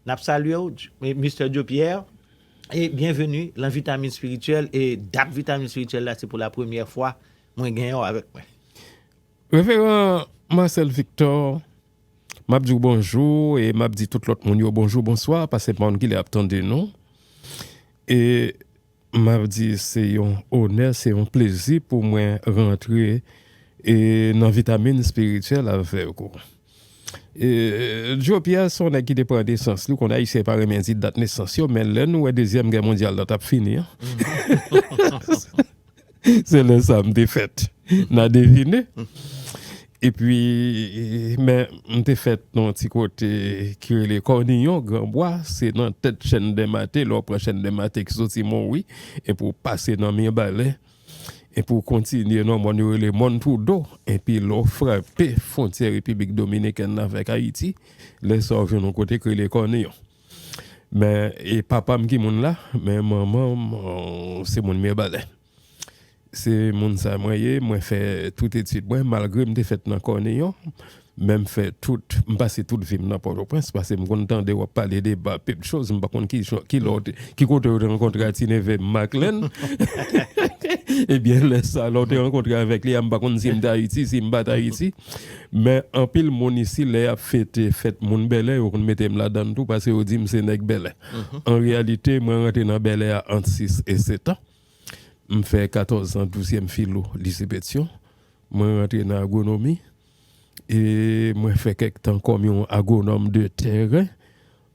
Nap salye w Mister Joe Pierre e byenveni lan Vitamin Spirituel e dat Vitamin Spirituel la se pou la premyè fwa mwen genyen w avèk mwen. Reveran Marcel Victor, map di w bonjou e map di tout lòt moun yo bonjou, bonswa, pase pa w gile ap tande nou e. M ap di se yon onè, se yon plezi pou mwen rantre nan vitamin espirityèl avèk ou. Djo Pyè se yon nèg ki te pran nesans li, ou konnen Ayisyen pa renmen di dat nesans yo, men lè nou wè dezyèm gè mondyal la t ap fini an, Se lè sa m te fèt nan devine. Epi men m te fèt nan yon ti kote ki rele Kòniyon, Granbwa, se nan tèt Chèn Dèmate, lè w pran Chèn Dèmate ki soti Monwi epi w pase nan Mirebalè, epi w kontinye nan mòn yo rele Mòn Twoudo, epi lè w frape fwontyè Repiblik Dominikèn nan avèk Ayiti, lè sa w jwenn yon kote ki rele Kòniyon. Men e papa m ki moun la, men manman m se moun Mirbalè. Se moun sa mwen ye, mwen fè tout etid mwen, malgre m te fèt nan Kòniyon, men m fè tout, m pase tout vi m nan Pòtoprens, pase m konn tande w ap pale de ba pep choz, m pa konn ki jan, ki lè w te, ki kote w te rankontre a ti neve m, Maklèn. Ebyen lè sa, lè w te rankontre avèk li a, m pa konn si m te Ayiti, si m pa t Ayiti. Men anpil moun isi lè yap fete fèt moun Bèlè yo konn mete m ladann tou pase yo di m se nèg Bèlè. An reyalite mwen rantre nan Bèlè a ant 6 e 7 an. M fè 14 zan douzyèm filo lise Petyon. Mwen rantre nan agwonomi e mwen fè kèk tan kòm yon agwonòm de tèren.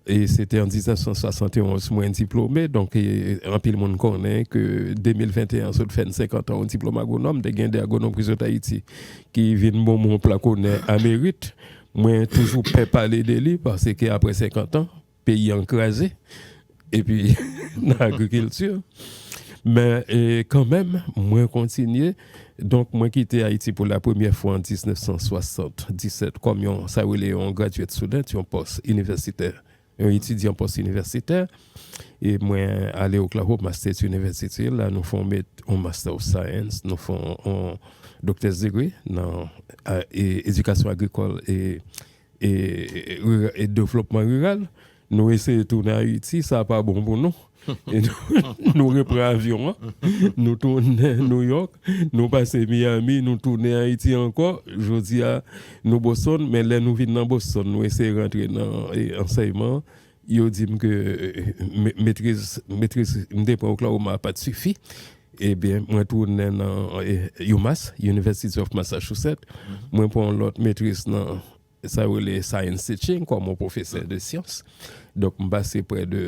E se te an 1971 mwen diplome, donk anpil moun konnen ke 2021 an sot fèn 50 an yon diplome agwonòm, te gen 2 agwonòm ki sot Ayiti ki vin bon mwen yon plak onè a merit. Mwen toujou pè pale de li paske apre 50 an, peyi an kraze epi nan agrikilti. Men kanmenm mwen kontinye. Donk, mwen kite Ayiti pou lapremyè fwa an 1977 kòm yon, sa yo rele yon graduate student, yon pòs inivèsitè, yon etidyan pòs inivèsitè. E mwen ale Oklahoma State University, la nou fè yon met yon Master of Science, nou fè yon Doctor's Degree nan edikasyon agrikòl e e devlopman riral nou eseye tounen ayiti sa pa bon pou nou nou repran avyon an nou tounen nouyòk nou pase miyami nou tounen ayiti ankò jodi a nou boston men lè nou vin nan boston nou eseye rantre nan ansèyman an Yo di m ke metriz metriz m te pran Oklahoma a pa t sifi. Ebyen, mwen tounen nan UMass, University of Massachusetts, mwen pran yon lòt metriz nan sa yo rele Science Teaching kòm yon pwofesè de syans. Donk, m pase prè de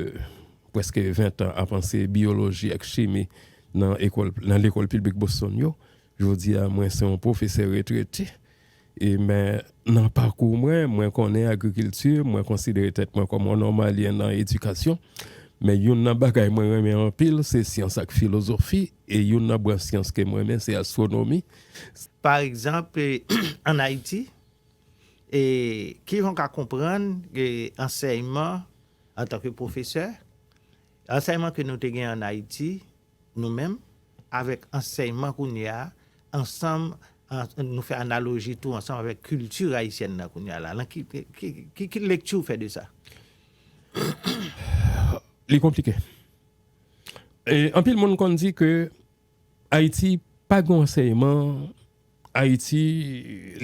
prèske ventan ap anseye biyoloji ak chimi nan ekòl nan lekòl piblik Boston yo. Jodi a, mwen se yon pwofesè retrete. E men, nan pakou mwen, mwen konnen agrikilti, mwen konsidere tèt mwen kòm yon nòmalyen nan edikasyon. Men youn nan bagay mwen renmen anpil, se syans ak filozofi, e youn nan branch syans ke m renmen se astwonomi. Pa egzanp, ann Ayiti, ki jan w ka konprann ansèyman antanke pwofesè, ansèyman ke nou te gen ann Ayiti, Nou menm, avèk ansèyman kounye a, ansanm, nou fè analoji tou ansanm avèk kilti ayisyèn nan kounye a la. Lan ki, ki, ki lekti ou fè de sa? Li konplike. E anpil moun konn di ke Ayiti pa gen yon ansèyman Ayiti,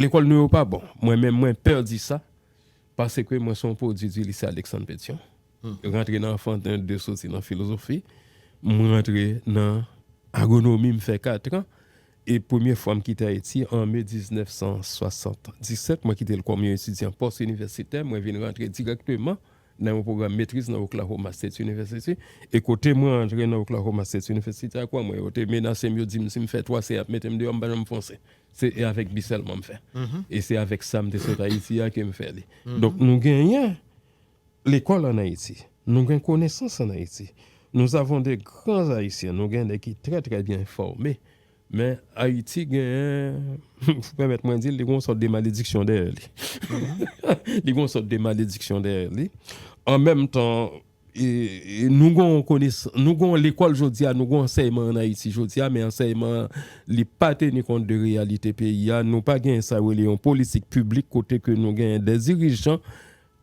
lekòl nou yo pa bon. Mwen menm mwen pè di sa, paske mwen son pwodui di Lise Aleksann Petyon. Rantre nan Anfanten 2 soti nan Filozofi, m rantre nan Agonomi m fè katran e premye fwa m kite Ayiti an me 1977 mwen kite l kòm yon etidyan pòs inivèsitè mwen vin rantre dirèkteman nan yon pwogram metriz nan Oklahoma State University, e kote mwen antre nan Oklahoma State University ak wa mwen yo te menase m yo di m si m fè 3 se y ap mete m deyò m pa janm fonse se e avèk bi sèlman m fè e se avèk sa m te sot Ayiti a ke m fè li donk nou genyen lekòl an Ayiti nou gen konesans an Ayiti nous avons de grands Haïtiens nou gen nèg ki trè trè byen fòme Men Ayiti genyen, si w pèmèt mwen di l, li gen yon sòt de malediksyon dèyè li. Li gen yon sòt de malediksyon dèyè li. An menm tan, nou gen yon konesans, nou gen yon lekòl jodi a, nou gen yon ansèyman ann Ayiti jodi a, men ansèyman an, li pa teni kont de reyalite peyi a. Nou pa genyen sa yo rele yon politik piblik kote ke nou genyen de dirijan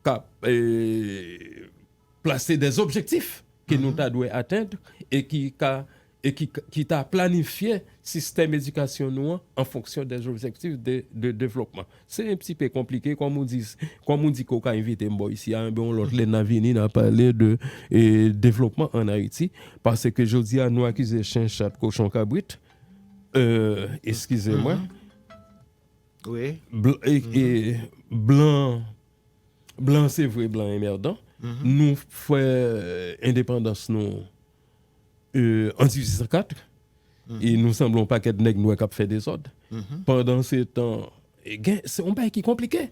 k ap. plase de objektif ke nou ta dwe atenn e ki ka e ki ki ta planifye sistèm edikasyon nou an an fonksyon de objektif de de devlopman. Se yon ti pe konplike kòm ou di kòm ou di ke ou ka envite m bò isi a enben yon lòt lè nan vini nan pale de e devlopman an Ayiti paske jodi a nou akize chen, chat, kochon, kabrit e eskize mwen blan Blan se vre blan enmerdan nou fè endepandans nou an 1804 e nou sanble yon pakèt nèg nwè kap fè dezòd pandan se tan gen se yon bagay ki konplike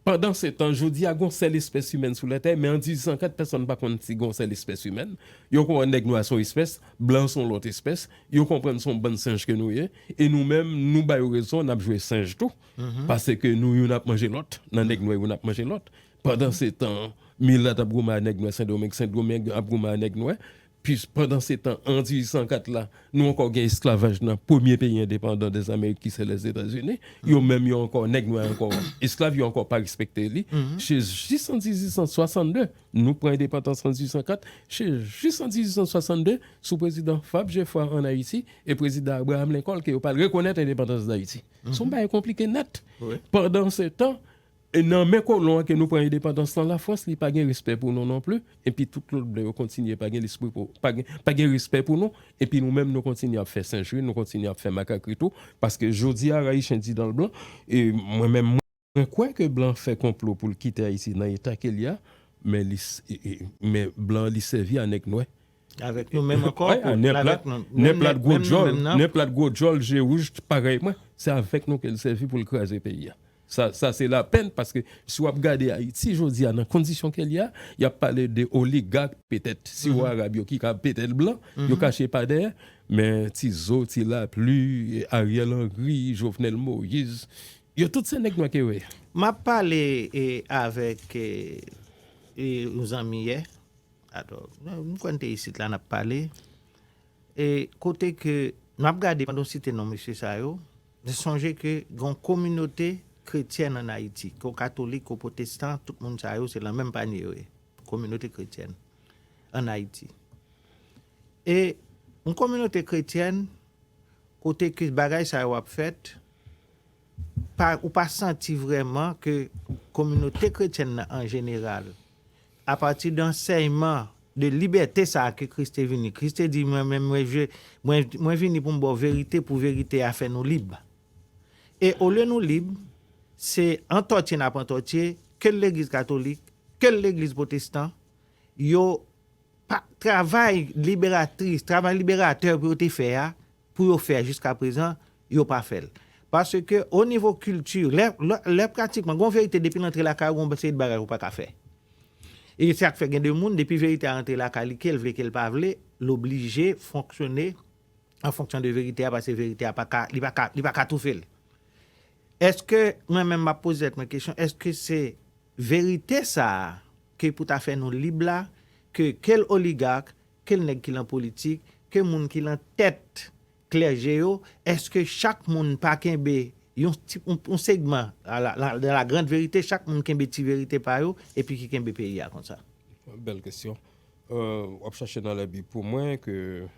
pandan se tan jodi a gon sèl espès imèn sou lètè men an 1804 pèsòn pa konn si gon sèl espès imèn yo konprann nèg nwè son espès blan son lòt espès yo konprann son bann senj ke nou ye e nou menm nou ba yo rezon nap jwe senj tou. pase ke nou youn ap manje lòt, nan nèg nwè youn ap manje lòt, pandan se tan milat ap goumen a nèg nwè sendomeng, sendomeng ap goumen a nèg nwè, pis pandan se tan an 1804 la nou ankò gen esklavaj nan premye peyi endepandan dèz amerik ki se lèzetazini, yo menm yo ankò nèg nwè ankò esklav yo ankò pa respekte li, se jis an 1862 nou pran endepantans an 1804, se jis an 1862 sou prezidan Fab Jefwa an Ayiti e prezidan Abraham Lincoln ke yo pral rekonèt endepantans dayiti. Se yon bagay konplike nèt. Pandansetan, nan men kolon an ke nou pran endepandans lan, Lafrans li pa gen respè pou nou non pli, epi tout lòt blan yo kontinye pa gen lespri pou, pa gen respè pou nou, epi nou menm nou kontinye ap fè senjri, nou kontinye ap fè makakri tou, paske jodi a, Rayichen di dan l blan, e mwen menm, Mwen kwè ke blan fè konplo poul kite Ayiti nan eta kel ye a, men li men blan li sèvi a nèg nwè. Avèk nou menm ankò pou l avèk nou. Nèg la t gwo djòl, nèg la t gwo djòl je wouj parèy mwen, se avèk nou kel sèvi poul kraze peyi a. Sa sa se lapèn paske si wap gade Ayiti jodi a nan kondisyon kel ye a, yap pale de oligak petèt siwo arab yo ki ka petèt blan, yo kache pa dèyè, men ti zo, ti lapli, Ariel Henry, Jovenel Moïse, Yo tout se neg nwe ke we. Map pale avek yon zanmi yè atò m kwè n te isit la nap pale e kote ke map gade pandan w site non mesye sa yo m sonje ke gon kominote kretyèn an ayiti ko katolik ko potestan tout moun sa yo se lan menm panye yo ye kominote kretyèn an ayiti e yon kominote kretyèn kote ke bagay sa yo ap fèt. ou pa santi vrèman ke kominote kretyèn nan an jeneral, apati de ansèyman, de libète sa a ke Kris te vini, Kris te di, mwen menm, mwen vini pou m ba w verite, pou verite a fè nou lib. E olye nou lib, se antòtye n ap antòtye, ke l legliz katolik, ke l legliz potestan, yo pa travay liberatris, travay liberatè pou yo te fè a, pou yo fè jiska prezan yo pa fèl paske o nivo kilti lè lè pratikman gon verite depil antre lakay ou gon seri de bagay ou paka fè e sak fè gen de moun depi verite a antre lakay li kel vle kel pa vle l oblije fonksyone an fonksyon de verite a paske verite a paka li paka li paka toufel eske mwen menm map poze tèt mwen kesyon eske se verite sa ke pou ta fè nou lib la ke kel oligark ke nèg ki lan politik, ke moun ki lan tèt klèje yo, eske chak moun pa kenbe yon ti, yon segman, de la grande vérité, chak moun kenbe ti verite pa yo, epi ki kenbe peyi a konsa? Bèl kesyon. Wap chache nan lèbib pou mwen ke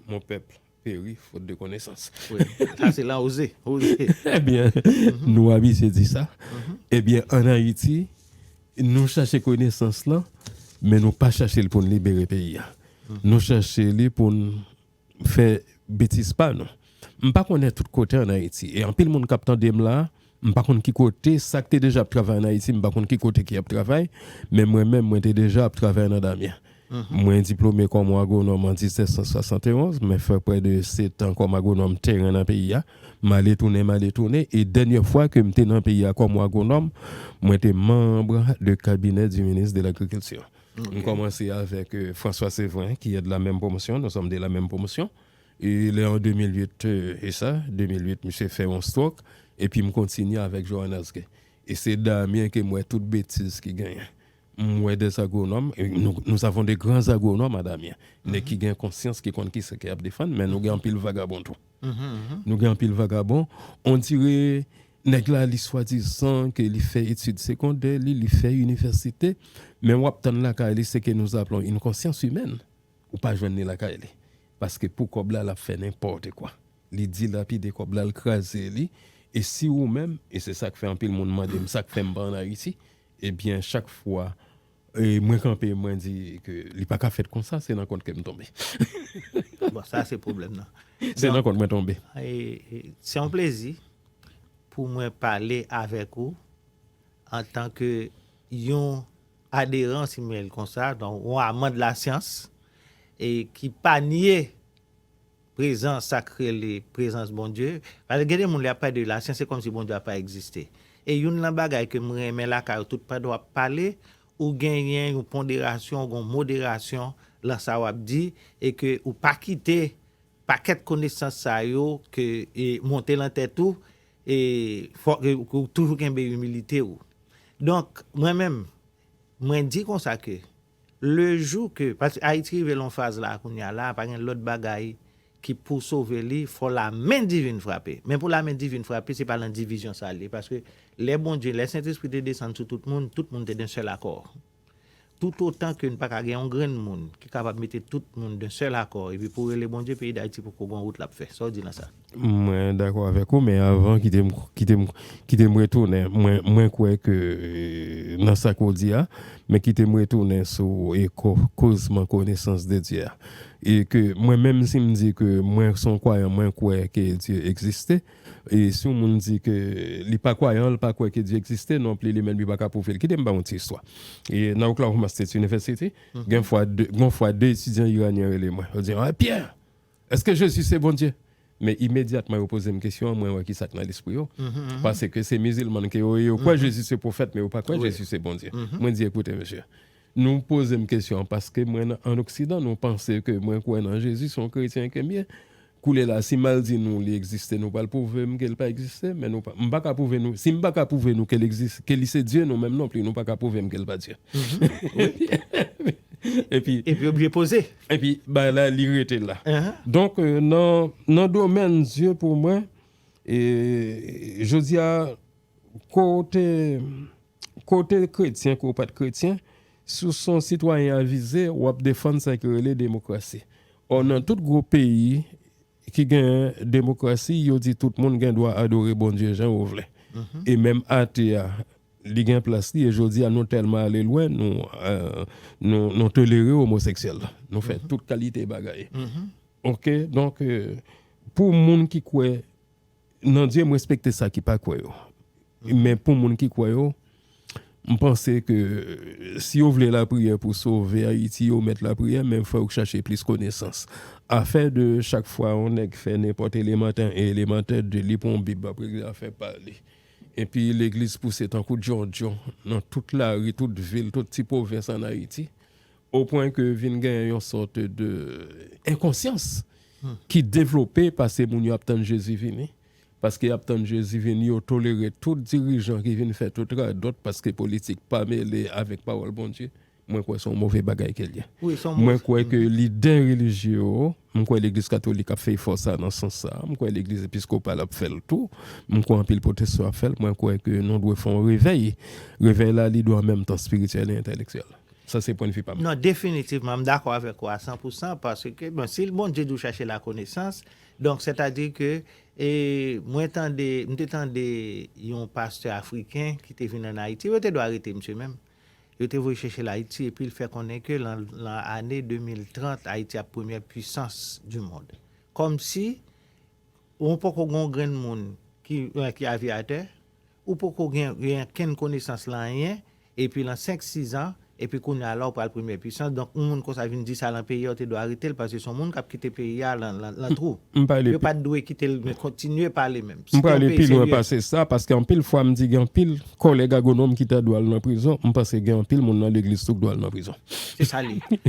mon pèp. Peri, faute de connaissance. Wi, sa se Laoze, Oze. Ebyen, nou abitye di sa. Ebyen, an Ayiti, nou chache konesans lan, men nou pa chache l pou n libere peyi a. Nou chache li pou n fè betiz pa nou. M pa konnen tout kote an Ayiti, e anpil moun k ap tande m la a, M pa konn ki kote, sa k te deja ap travay an Ayiti, m pa konn ki kote ki ap travay, men mwen menm, mwen te deja ap travay nan Damyen. Mwen diplome kòm agwonòm an 1771, mwen fè prè de setan kòm agwonòm teren nan peyi a, m ale tounen, m ale tounen, e dènyè fwa ke m te nan peyi a kòm agwonòm, mwen te manb de kabinè di minis de lagrikilti. M kòmanse avèk François Séverin ki è de la menm pwomosyon, nou sòm de la menm pwomosyon. E lè an 2008, e sa, 2008 misye fè yon strok, epi m kontinye avèk Johannes Gay. E se Damien ke m wè tout betiz ki genyen. M wè des agronòm, e nou, nous avons de grands agronomes à Damien. Nèg ki gen konsyans, ki konn kisa ke y ap defann, men nou gen anpil vagabon tou. Nou gen anpil vagabon, on dire nèg la li swadizan ke li fè etid segondè li, li fè inivèsite, men w ap tann lakay li ce que nous appelons une conscience humaine. Ou pa jwenn li lakay li. Paske pou kòb la lap fè nenpòte kwa. Li dilapide kòb la, l kraze li. E si ou menm, e se sak fè anpil moun mande m sak fè m pa an Ayiti. Ebyen chak fwa mwen kanpe mwen di ke li paka fèt konsa, se nan kont ke m tonbe. Bon sa se pwoblèm nan. Se nan kont mwen tonbe. Se yon plezi pou mwen pale avèk ou antan ke yon Aderan simen l konsa, donk yon aman de la syans e ki pa nye prezans sa k rele prezans Bondye. Paske gen de moun lè y ap pale de la syans se kòm si Bondye a pa egziste. E youn lan bagay ke m renmen lakay ou tout pandan w ap pale ou genyen yon ponderasyon, ou gen yon moderasyon lan sa w ap di e ke ou pa kite pakèt konesans sa yo ke monte lan tèt ou E fòk ou toujou kenbe imilite ou. Donk, mwen menm, mwen di konsa ke le jou ke, paske Ayiti rive lan yon faz la kounye a la, pa gen lòt bagay ki pou sove li, fò lamen divin frape. Men pou lamen divin frape, se pa lan divizyon sa li ye, paske lè Bondye, lè Sentespri te desann sou tout moun, tout moun te dan sèl akò. Toutotan ke n pa ka gen yon grenn moun ki kapab mete tout moun d'un seul accord epi pou rele Bondye peyi Dayiti poko gon wout lap fè. Sa w di nan sa? Mwen dakò avèk ou men avan kite m kite m kite m retounen mwen mwen kwè ke nan sa ke w di a men kite m retounen sou e ko kozman konesans de Dye a e ke mwen menm si m di ke mwen son kwayan mwen kwè ke Dye egziste E si yon moun di ke li pa kwayan, li pa kwè ke Dye egziste non pli, li menm li pa ka pwouve l. Kite m ba w yon ti istwa. E nan Oklahoma State University, gen fwa de, gon fwa de etidyan iranyen rele mwen. Yo di, Hey Pierre! Eske Jezi se Bondye? Men imedyatman yo poze m kesyon an, mwen wè ki sa k nan lespri yo. Paske se mizilman ke yo ye, yo kwè Jezi se pwofèt, men yo pa kwè Jezi se Bondye. Mwen di, Ekoute mesye. Nou pozem kesyon an paske mwen nan an oksidan nou panse ke mwen kwè nan Jezi son kretyen kem ye koulye la si mal di nou li egziste nou pral pwouvem kel pa egziste men nou m paka pwouve nou sim paka pwouve nou kel egziste ke li se Dye nou menm non pli nou paka pwouvem kel pa Dye epi epi oblije poze epi bagay la li rete la donk nan nan domèn Dye pou mwen e jodia kote. Kote kretyen ke w pat kretyen, si w son sitwayen avize, w ap defann sa ki rele demokrasi. Ò nan tout gwo peyi ki gen demokrasi, yo di tout moun gen dwa adore Bondye jan yo vle. E menm ate a, li gen plas li e jodi a nou tèlman ale lwen, nou tolere omoseksyèl. Nou fè tout kalite bagay. Ok, donk pou moun ki kwè Nan Dye m respekte sa ki pa kwè yo. Men pou moun ki kwè yo, m panse ke si yo vle lapriyè pou sove Ayiti yo mèt lapriyè men fò yo chache plis konesans. Afè de chak fwa yon nèg fè nenpòt elemantè 1 elemantè 2 li pran yon bib ap regle afè pa li. Epi legliz pouse tankou djondjon nan tout lari, tout vil, tout ti pwovens an Ayiti. O pwen ke vin genyen yon sòt de enkonsyans ki devlope pase moun yo ap tann Jezi vini. Paske y ap tann Jezi vini, yo tolere tout dirijan ki vin fè tout radòt paske politik pa mele avèk pawòl Bondye. Mwen kwè se yon move bagay ke l ye. Mwen kwè ke lidè relijye yo M kwè legliz katolik ap fè efò sa nan sans sa. M kwè legliz episkopal ap fè l tou. M kwè anpil pwotestan ap fè l. Mwen kwè ke nou dwe fè yon revèy. Revèy la li dwe an menm tan espirityèl e entelektyèl. Sa se pwen de vi pa m. Non, definitivman m dakò avèk ou a san pou san paske bon si Bondye di w chache lakonesans donk sètadi ke e mwen tande m te tande yon pastè afriken ki te vin an Ayiti yo te dwe arete misye menm. Yo te voye chèche l Ayiti epi l fè konnen ke lan lan ane 2030 Ayiti ap premyè pwisans di mond. Kòmsi ou poko gen yon grenn moun ki ki aviyatè, ou poko gen gen ankenn konesans lan anyen epi lan 5, 6 an epi kounye a la ou pral premyè pwisans donk yon moun konsa vin di sa lan peyi a ou te dwe arete l paske se yon moun k ap kite peyi a lan lan lan twou. M pale Yo pa t dwe kite l men kontinye pale men. M prale pi lwen pase sa, paske anpil fwa m di gen anpil kòlèg agwonòm ki ta dwe al nan prizon, m panse gen anpil moun nan legliz tou k dwe al nan prizon. Se sa l ye.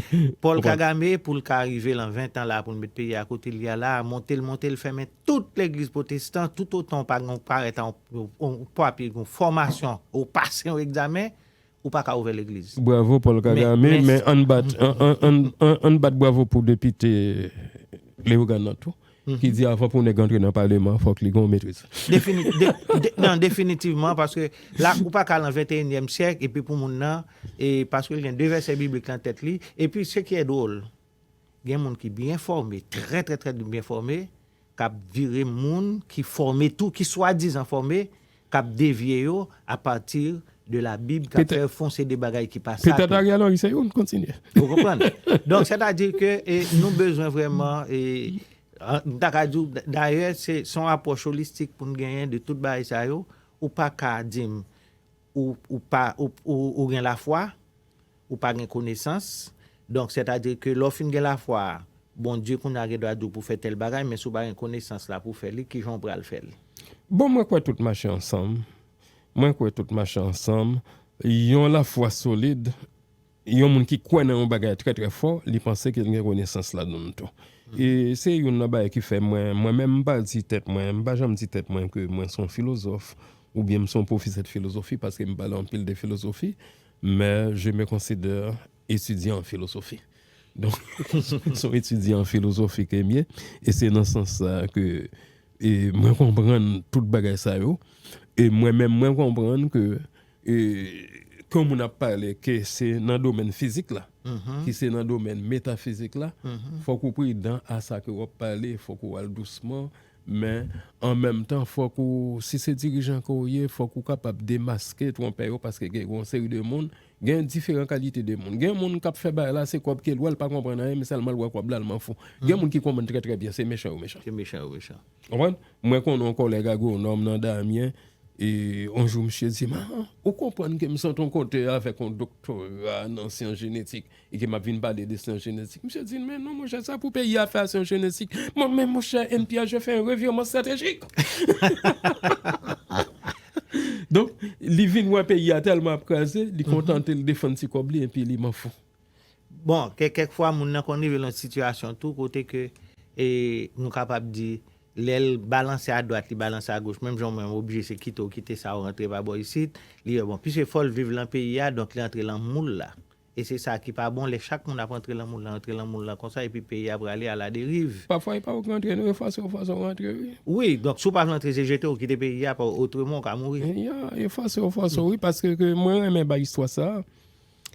Paul Kagame, pou l ka rive lan 20 tan la a pou l met peyi a kote l ye a la a, monte l monte l fèmen tout legliz pwotestan, toutotan w pa gen yon parèt a yon, yon papye, yon fòmasyon, ou pase yon egzamen, ou pa ka ouvè legliz. Bravo Paul Kagame men ann bat ann bat bravo pou depite Leogane nan tou ki di avan pou nèg antre nan paleman fòk li gen yon metriz. Nan definitivman paske la ou pa ka lan venteyinyèm syèk epi pou moun nan paske l gen 2 vèsè biblik lan tèt li epi se ki e dwol Gen moun ki byen fòme, trè trè trè byen fòme, k ap vire moun ki fòme tou, ki swadizan fòme, k ap devye yo apati de Labib, k ap fè yo fè yon seri de bagay ki pa sa tou. Petèt Ariel Henry se youn. Kontinye. Ou konprann? Donk, sètadi ke nou bezwen vrèman, m ta ka di w, dayè se yon apwòch olistik pou n genyen de tout bagay sa yo. Ou pa ka di m. ou pa, ou gen lafwa, ou pa gen konesans, donk sètadi ke lè w fin gen lafwa a, Bondye kounye a gen dwa di w pou w fè tèl bagay, men si w pa gen konesans la pou w fè li, ki jan w pral fè l? Bon, mwen kwè tout mache ansanm, mwen kwè tout mache ansanm, yon lafwa solid Yon moun ki kwè nan yon bagay trè trè fò, li panse ke li gen konesans ladann tou. E se youn nan bagay ki fè mwen, mwen menm m pa di tèt mwen, m pa janm di tèt mwen ke mwen se yon filozòf oubyen m se yon pwofesè de filozofi paske m pale anpil de filozofi, men je me considère étudiant en philosophie. Donk, se yon etidyan an filozofi ke m ye e se nan sans sa a ke mwen konprann tout bagay sa yo e mwen menm mwen konprann ke Ke yon moun ap pale ke se nan domèn fizik la, ki se nan domèn metafizik la, fòk ou pridan a sa ke wap pale, fòk ou al dousman, men an menm tan fòk ou, si se dirijan ke w ye, fòk ou kapab demaske twonpè yo paske gen yon seri de moun, gen diferan kalite de moun. Gen moun kap fè bagay la se kòb ke l wè, l pa konprann anyen, men sèlman l wè kòb la l m'en fou. Gen moun ki konprann trè trè byen se mechan yo mechan. Se mechan yo mechan. Konprann? Mwen konn yon kòlèg agwonòm nan Damyen, e yon jou misye di m, a, ou konprann ke m sot yon kote avèk yon doktora nan syans jenetik, e ke m ap vin pale de syans jenetik. Misye di m, men non monchè, sa pou peyi a fè a syans jenetik. Mwen, men monchè, NPHG fè yon revirman estratejik! Donk, li vin wè peyi a tèlman ap kraze, li kontante l defann ti kòb li, epi li m'en fous. Bon, kè kèk fwa moun nan konn rive nan yon sitiyasyon tou kote ke e nou kapab di lè l balanse a dwat li balanse a goch menm jan ou menm oblije se kite ou kite sa ou rantre pa bò isit li wè bon piske fò l viv lan peyi a donk li antre lan moul la e se sa ki pa bon lè chak moun ap antre lan moul lan antre lan moul lan konsa epi peyi a prale a la deriv. Pafwa e pa ou k rantre nou yo fòse ou fòse ou rantre wi. Wi, donk si ou pa vle antre se jete ou kite peyi a pa otreman ou ka mouri. Ya, yo fòse ou fòse ou wi paske ke mwen renmen bay istwa sa.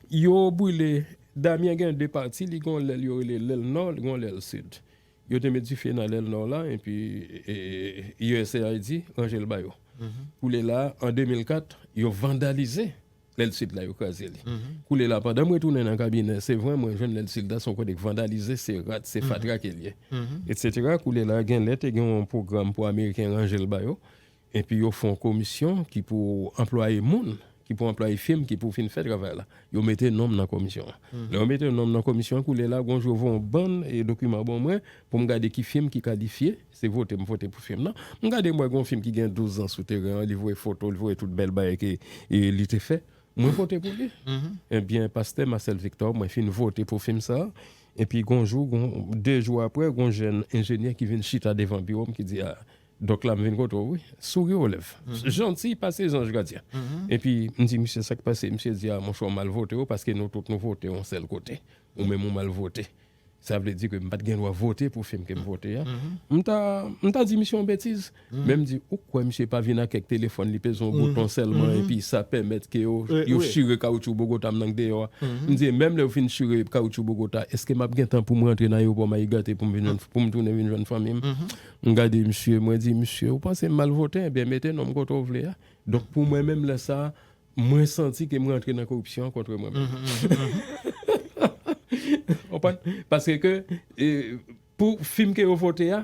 Yo brile Damien gen 2 pati li gon lèl yo rele lèl nò li gon lèl sid yo te met dife nan lèl nò la epi usaid ranjel ba yo koulye la an 2004 yo vandalize lèl sid la yo kraze li koulye la pandan mwen tounen nan kabinè se vre mwen jwenn lèl sid la son kote ki vandalize se rat se fatra ke liye etc koulye la genlè te gen yon pwogram pou ameriken ranjel ba yo Epi yo fon komisyon ki pou anplwaye moun, ki pou anplwaye fim ki pou fin fè travay la. Yo mete non m nan komisyon an. Lè yo mete non m nan komisyon an, koulye la, gwo jou yo voye yon bann dokiman ban mwen pou m gade ki fim ki kalifye. Se vote m vote pou fim nan. M gade m wè gen yon fim ki gen douz zan sou teren an, li voye foto, li voye tout bèl bagay ke li te fè. Mwen vote pou li. Ebyen, pastè Marcel Victor, mwen fin vote pou fim sa a. Epi gwo jou, gwo, de jou apre, gwo jèn enjenyè ki vin chita devan biwo m ki di, a, Dòk la m vin kote w wi. Souri o lèv. Janti pase zanj gadyen. Epi m di misye sa k pase? Misye di a monchè w mal vote w paske nou tout nou vote yon sèl kote. Ou menm ou mal vote. Sa vle di ke m pa t gen dwa vote pou fim ke m vote a. M ta m ta di misye yon betiz. Men m di ou kwè misye pa vin ak kèk telefòn li peze yon bouton sèlman epi sa pèmèt ke yo yo chire kawoutchou Bogota m nan k deyò a. M di e menm lè yo fin chire kawoutchou Bogota èske m ap gen tan pou m rantre nan ayewopò Mayi Gate pou m vin jwenn pou m tounen vin jwenn fanmi m? M gade misye, mwen di, Misye, ou panse m mal vote? Ebyen, mete non m kote w vle a. Donk, pou mwen menm lè sa a, mwen santi ke m rantre nan koripsyon an kontre mwen menm. Ou konprann? Paske ke, pou fim ke yo vote a,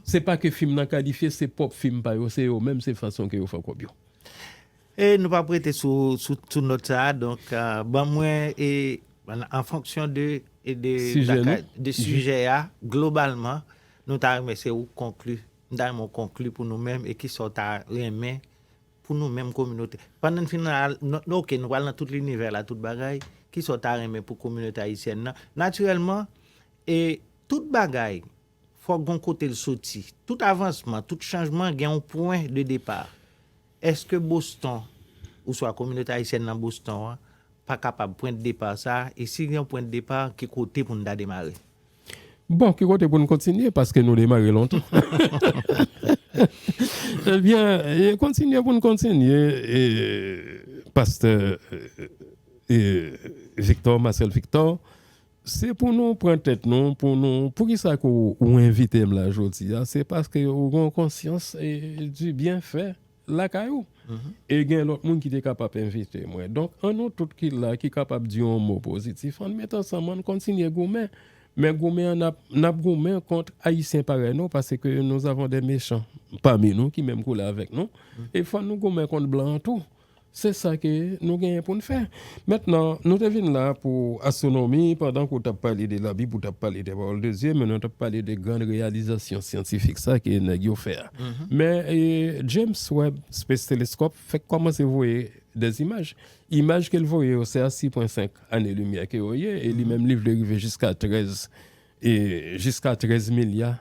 se pa ke fim nan kalifye, se pwòp fim pa yo, se yo menm, se fason ke yo fè kòb yo. E nou pap rete sou sou nòt sa a donk ban mwen e an fonksyon de de Sijè nou? lakay de sijè a globalman nou ta renmen se ou k konkli m ta renmen w konkli pou nou menm e kisa w ta renmen pou nou menm kominote pandan n fin al nan ok nou pral nan tout linivè la tout bagay kisa w ta renmen pou kominote ayisyèn nan natirèlman e tout bagay Fòk gon kote l soti. Tout avansman, tout chanjman gen yon pwen de depa. Eske Boston, ouswa kominote ayisyèn nan Boston an, pa kapab pwen de depa sa, e si gen yon pwen de depa, ki kote pou n ta demare? Bon, ki kote pou n kontinye, paske nou demare lontan. Ebyen, e kontinye pou n kontinye, e pastè Victor, Marcel Victor. Se pou nou pran tèt nou pou nou poukisa ke ou envite m la jodi a se paske ou gen yon konsyans di byen fè lakay ou e gen lòt moun ki te kapab envite mwen donk an nou tout ki la ki kapab di yon mo pozitif an n met ansanm an n kontinye goumen men goumen an n ap goumen kont ayisyen parèy nou paske nou avon de mechan pami nou ki menm koulè avèk nou e fò nou goumen kont blan an tou. Se sa ke nou genyen pou n fè. Mentnan, nou te vin la pou astwonomi, pandan ke w t ap pale de Labib, ou t ap pale de Pawòl de Dye, men nou t ap pale de gran reyalizasyon syantifik sa ke nèg yo fè a. Men, James Webb Space Telescope fèk kòmanse voye dè imaj. Imaj ke l voye yo, se a 6,5 ane limyè ke yo ye, e li menm li vle rive jiska 13, jiska 13 milya.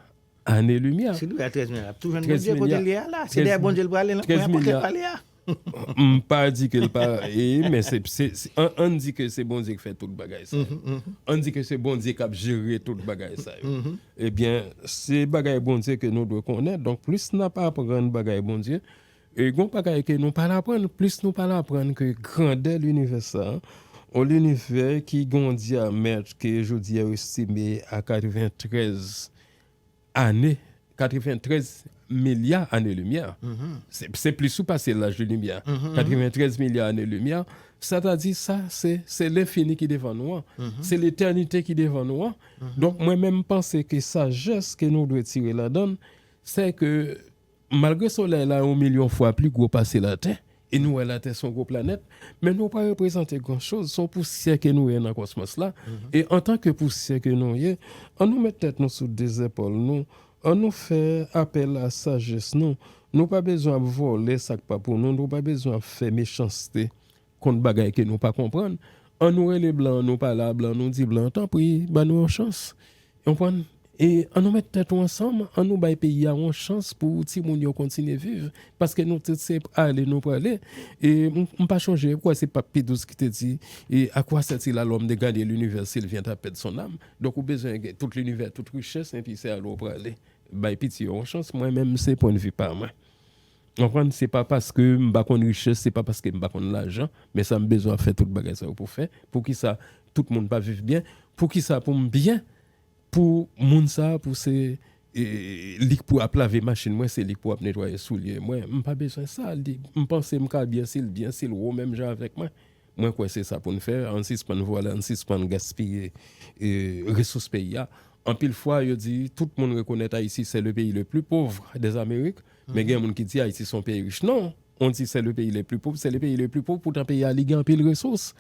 Ane limyè. Si Louis a 13 milya lap tou jwenn Bondye kote li ye a la, se dèyè Bondye li prale nan kwen a pòkèt pa li a. M pa di ke l pa e men se ann di ke se Bondye k fè tout bagay sa yo. Ann di ke se Bondye k ap jere tout bagay sa yo. Ebyen se bagay Bondye ke nou dwe konnen donk plis n ap aprann bagay Bondye, E gon bagay ke nou pa al aprann, plis nou pa al aprann ke grandè linivè sa, yon linivè ki gen yon dyamèt ke jodi a yo estime a 93 ane, 93 milya ane limyè. Se plis ou pase laj de limyè. 93 milya ane limyè, sa ta di sa se, se lenfini ki devan nou an. Se letènite ki devan nou an. Donk mwen menm panse ke sajès ke nou dwe tire ladan, se ke Malgre Solèy la yon milyon fwa pli gwo pase Latè, e nou wè Latè se yon gwo planèt, men nou pa reprezante gran choz, se yon pousyè ke nou ye nan kosmos la, e antanke pousyè ke nou ye, an nou met tèt nou sou 2 zèpòl nou, an nou fè apèl a sajès nou, nou pa bezwen ap vòlè sa k pa pou nou, nou pa bezwen ap fè mechanste kont bagay ke nou pa konprann, an nou rele blan an nou pale a blan an nou di blan an tanpri ba nou yon chans. Ou konprann? E an nou mèt tèt ou ansanm, an nou bay peyi a yon chans pou timoun yo kontinye viv. Paske nou tout se ale nou prale. E m pa chonje, m kwè se Pap Pi Dous ki te di, e a koi sètil a lòm de gane linivè si l vient a pèd son àm? Donk ou bezwen gen tout linivè, tout richès, enpi se ale ou prale. Bay piti yo yon chans, mwen menm se pwendvi pa mwen. Ou konprann? Se pa paske m pa konn richès, se pa paske m pa konn lajan, men sa m bezwen ap fè tout bagay sa yo pou fè. Poukisa tout moun pa viv byen? Poukisa pou m byen, pou moun sa a pou se li k pou ap lave machin mwen, se li k pou ap netwaye soulye mwen? M pa bezwen sa. Li, m panse m ka byen si l byen, si l wo menm jan avèk mwen. Mwen kwè se sa pou n fè. Ann sispann vòlè, ann sispann gaspiye resous peyi a. Anpil fwa yo di tout moun rekonèt Ayiti sè le peyi le pli povr dè Amerik. Men gen moun ki di Ayiti son peyi rich. Non, on di se le peyi le pli pov, se le peyi le pli pov poutan peyi a li gen anpil resous.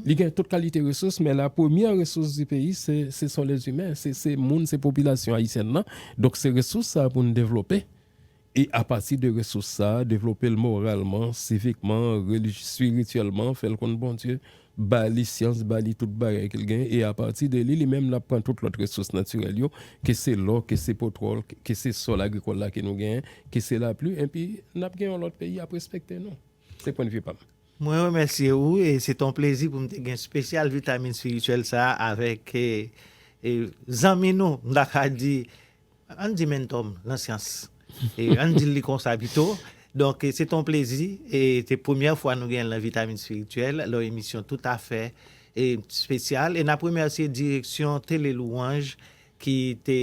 Li gen tout kalite resous men la premyè resous di peyi se son les humains, se moun, se popilasyon ayisyèn nan. Donk se resous sa a pou nou devlope e a pati de resous sa a devlope l moralman, sivikman, relijy, sirityèlman, fè l konn Bondye. Ba li syans, ba li tout bagay ke l genyen, e apati de li, li menm l ap pran tout lòt resous natirèl yo, ke se lò, ke se potwòl, ke se sòl agrikòl la ke nou genyen, ke se lapli, enpi n ap gen yon lòt peyi y ap respekte nou. Se pwendvi pa m. Mwen remèsye ou e se te yon plezi pou m te gen spesyal vitamin spirityèl sa a avèk zanmi nou, m ta ka di, Ann di menntòm nan syans. Ann di l li konsa pito. Donk, se te yon plezi. Se premyè fwa nou genyen l nan Vitamin Spirituel, yon emisyon toutafè espesyal. E n ap remèsye direksyon Tele Louange ki te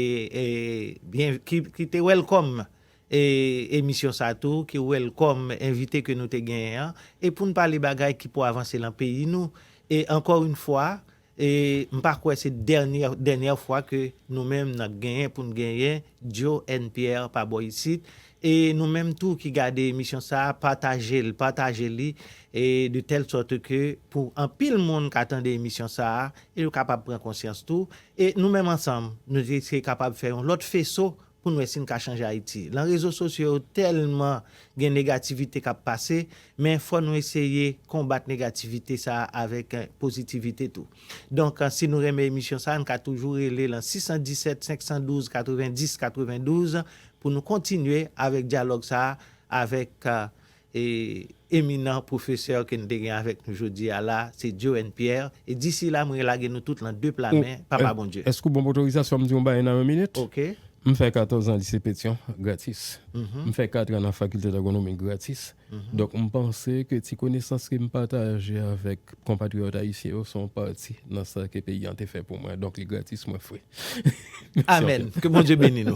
byen, ki te welcome emisyon sa a tou, ki welcome envite ke nou te genyen an. E pou n pale bagay ki pou avanse nan peyi nou. E ankò yon fwa, E m pa kwè se dènyè dènyè fwa ke nou menm n ap genyen pou n genyen Joe N. Pierre pa bò isit. E nou menm tou ki gade emisyon sa a, pataje l, pataje li e de tèl sòt ke pou anpil moun ka tande emisyon sa a e yo kapab pran konsyans tou. E nou menm ansanm, nou te kapab fè yon lòt feso pou n wè si n ka chanje Ayiti. Lan rezo sosyo yo tèlman gen negativite k ap pase, men fò nou eseye konbat negativite sa a avèk pozitivite tou. Donk, si nou renmen emisyon sa a, n ka toujou rele lan 617 512 90 92 pou nou kontinye avèk dyalòg sa a avèk e eminan pwofesè ke n te gen avèk nou jodi a la, se Joe N. Pierre, e disi la mwen relage nou tout lan de pla men Papa Bondye. Èske ou ban m otorizasyon m di yon bagay nan yon minit? Oke. M fè 14 an Lise Petyon, gratis. M fè katran nan Fakilte Dagonomi, gratis. Donk m panse ke ti konesans ke m pataje avèk konpatriyòt ayisyen yo se yon pati nan sa ke peyi an te fè pou mwen, donk li gratis mwen fre. Amèn! Ke Bondye beni nou.